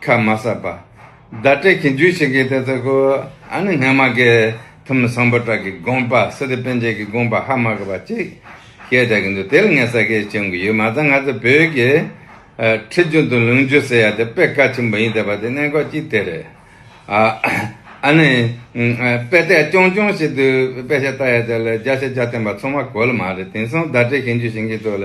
ཁ་མ་གསབ་པ། བརྡ་སྤྲད་ཀྱིས་འཇུ་བྱེད་ཀྱི་དེ་ཚོ་གོ། ཨ་ནི་སྔ་མ་གའི་ཐུ་མི་སངས་པོ་བྲག་གི་དགོངས་པ་སི་ཏི་པན་ཆེན་གྱི་དགོངས་པ་ཧ་མ་ག་པ་ཅིག་ཞེས་བལྟ་གི་འདུག་དེར་ངས་ས་ཁའི་ཆེན་གུ་ཡིག་མ་རྩ་ང་ཚོ་བོད་ཀྱི་ཁྲི་རྒྱུན་དུ་ལུང་རྒྱུ་ཟེར་ཡ་དེ་དཔེ་ཀ་ཆེན་པོ་ཡིན་བལྟས་པ་དེ་གནད་འགག་ཅིག་དེ་རེད། ཨ་ནི། དཔེ་བལྟས་རྐྱང་རྐྱང་ཞིག་འདུག་དཔེ་ཆ་བལྟ་ཡ་དེ་ལ་རྒྱ་ཆ་རྒྱ་བསྟན་པ་ཚང་མ་གོ་ལ་མ་རེད་དེང་སང་བརྡ་སྤྲད་ཀྱིས་འཇུ་བྱེད་ཀྱི་ཚོ་ལ་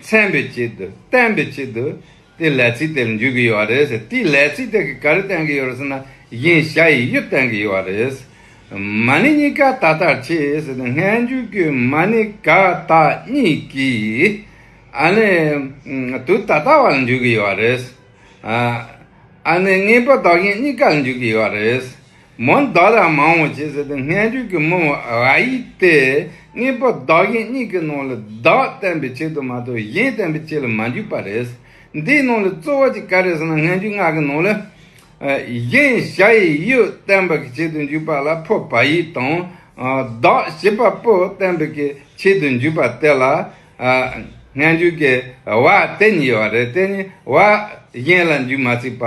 མཚན་པའི་ཆེད་དུ་བསྟན་པའི་ཆེད་དུ་དེའི་ལས་ཚིག་དེར་འཇུག་གི་ཡོད་པ་རེད། དེའི་ལས་ཚིག་དེ་གིས་ག་རེ་བསྟན་གི་ཡོད་རེད་ཟེར་ན་བཞིན་བཞག་ཡི་གཡོ་བསྟན་གི་ཡོད་པ་རེད། མ་ཎི་གཉིས་ཀ་ད་ལྟར་ཆེས་ཟེར་ཏེ་སྔས་འཇུག་རྒྱུའི་མ་ཎི་ག་དག་གཉིས་ཀྱིས་ཨ་ནི་དུ་ད་ལྟ་བ་ལ་འཇུག་གི་ཡོད་པ་རེད། ཨ་ནི་གཉིས་པོ་བདག་གཞན་གཉིས་ཀ་ལ་འཇུག་གི་ཡོད་པ་རེད། མོ་བདག་ལ་མང་བོ་བྱེད་ཟེར་ཏེ་སྔས་འགྲོས་ཀྱིས་མོ་བ་ཨ་ཡིག་སྟེ་གཉིས་པོ་བདག་གཞན་གཉིས་ཀྱི་ནང་ལ་བདག་བསྟན་པའི་ཆེད་དུ་མ་གཏོགས་གཞན་བསྟན་པའི་ཆེད་ལ་མ་འཇུག་པ་རེད། འདིའི་ནང་ལ་རྩོལ་བ་གཅིག་ག་རེད་ཟེར་ན་སྔས་འགྲོས་ངག་གི་ནང་ལ། གཞན་བྱ་ཡི་ཡུལ་བསྟན་པ་གི་ཆེད་དུ་འཇུག་པ་ལ་ཕོ་བ་ཡིག་དང། བདག་བྱེད་པ་པོ་བསྟན་པའི་གི་ཆེད་དུ་འཇུག་པ་དེ་ལ། སྔས་འགྲོས་ཀྱི་བ་དེ་གཉིས་བ་རེད་དེ་གཉིས་བ་གཞན་ལ་འཇུག་མ་སྲིད་པ།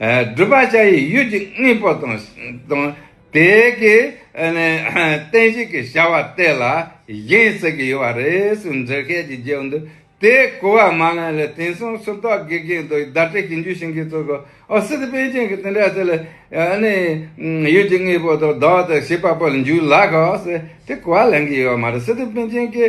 སྒྲུབ་པ་བྱ་ཡི་ཡུལ་གྱི་དངོས་པོ་དང། དེ་གའི་རྟེན་བཞེངས་ཀྱི་བྱ་བ་དེ་ལ་བཞེངས་ཟེར་གྱི་ཡོད་པ་རེད་ཟེར་འཛིན་མཁན་གྱི་རྗེས་འདི་དེ་གོ་བ་མ་ལོན་ལ་དེང་སང་སུ་རྟོག་དགེ་རྒན་དང་བརྡ་སྤྲད་ཞིང་རྒྱུ་བྱིན་གྱིས་གཙོས་ཀྱི་ཨོ་སི་ཏི་པན་ཅན་གྱི་དེ་འདྲ་ཟེར་ལ། ཡུལ་གྱི་དངོས་པོ་དང་བདག་དང་ཤེས་པ་པོ་ལ་འཇུག་ལགས་ཟེར་དེ་གོ་བ་ལེན་གྱི་ཡོད་པ་མ་རེད་སི་ཏི་པན་ཅན་གྱི།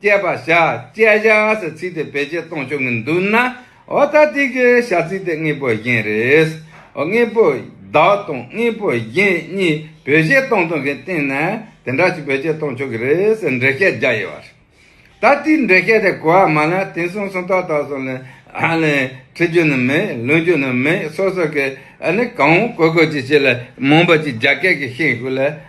བསྐྱེད་པ་བྱ། བསྐྱེད་བྱ་ཟེར་ཚིག་དེ་བེད་སྤྱད་གཏོང་ཆོག་གི་འདུག་ན། ཨོ་ད་ཏི་གི་བྱ་ཚིག་དེ་དངོས་པོ་གཞན་རེད། དངོས་པོ་བདག་དང་དངོས་པོ་གཞན་གཉིས་བེད་སྤྱད་གཏོང་ཐུབ་མཁན་སྟེང་ན་དེ་འདྲ་ཞིག་བེད་སྤྱད་གཏོང་ཆོག་གི་རེད་ཟེར་འགྲེལ་བཤད་རྒྱག་ཡོད་པ་རེད། ད་ལྟའི་འགྲེལ་བཤད་དེ་གོ་བ་མ་ལ་དེང་སང་སུམ་རྟགས་དག་སོགས་ལས་འཁྲིད་རྒྱུ་ནི་མེད་ལོན་རྒྱུ་ནི་མེད་སོ་སོ་གིས་གང་འོང་གོ་གོ་ཅིག་བྱས་ལ་མུན་པ་ཅིག་རྒྱ་སྐད་ཀྱིས་ཤེས་དགོས་ལ།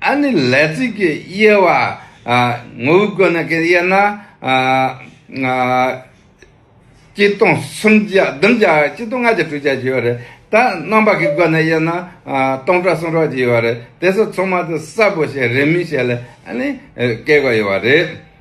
ཨ་ནི་ལས་ཚིག་གི་དབྱེ་བ། ངོ་བོའི་སྒོ་ནས་ཀྱང་དབྱེ་ན། གཅིག་སྟོང་གསུམ་བརྒྱ་བདུན་བརྒྱ་གཅིག་སྟོང་ལྔ་བརྒྱ་དྲུག་བརྒྱ་ཞེས་པ་རེད། ད་རྣམ་པ་གི་སྒོ་ནས་དབྱེ་ན། སྟོང་ཕྲག་སུམ་ཕྲག་ཅིག་ཡོད་པ་རེད། དེ་སོགས་ཚང་མ་དེ་གསལ་པོ་ཞིག་རེད་མིན་ཞེས་ལས་ཨ་ནི་བཀལ་དགོས་ཡོད་པ་རེད།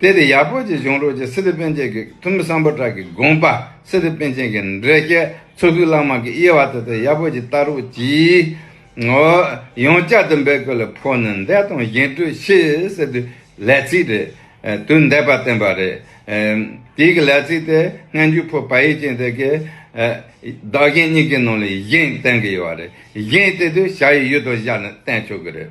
གལ་ཏེ་ཡག་པོ་ཅིག་བྱུང་རོགས་ཀྱི་སི་ལི་པན་ཅན་གྱི་འཐུས་མི་སངས་པོ་བྲག་གི་དགོངས་པ་སི་ལི་པན་ཅན་གྱི་འདྲེ་རྐྱལ་ཚོ་ཤུགས་ལང་མང་གི་དབྱེ་བ་དེ་དག་ཡག་པོ་ཅིག་བལྟ་རོགས་ཀྱིས། འོ། ཡང་བསྐྱར་དུ་འབད་དགོས་ལ་ཕོ་ནི་འདས་དང་གཞན་སྤྲོད་ཤེས་ཟེར་དུས་ལས་ཚིག་རེད། དུས་འདས་པ་བསྟན་པ་རེད། དེའི་གི་ལས་ཚིག་དེ་སྔ་འཇུ་ཕོ་བལ་ཡིག་ཅན་དེ་གི། བདག་གཞན་གཉིས་ཀྱི་ནང་ལ་གཞན་བསྟན་གི་ཡོད་རེད། གཞན་བསྟན་དུས་བྱ་ཡི་ཡུལ་དུ་བཞག་ནས་བསྟན་ཆོག་གི་རེད།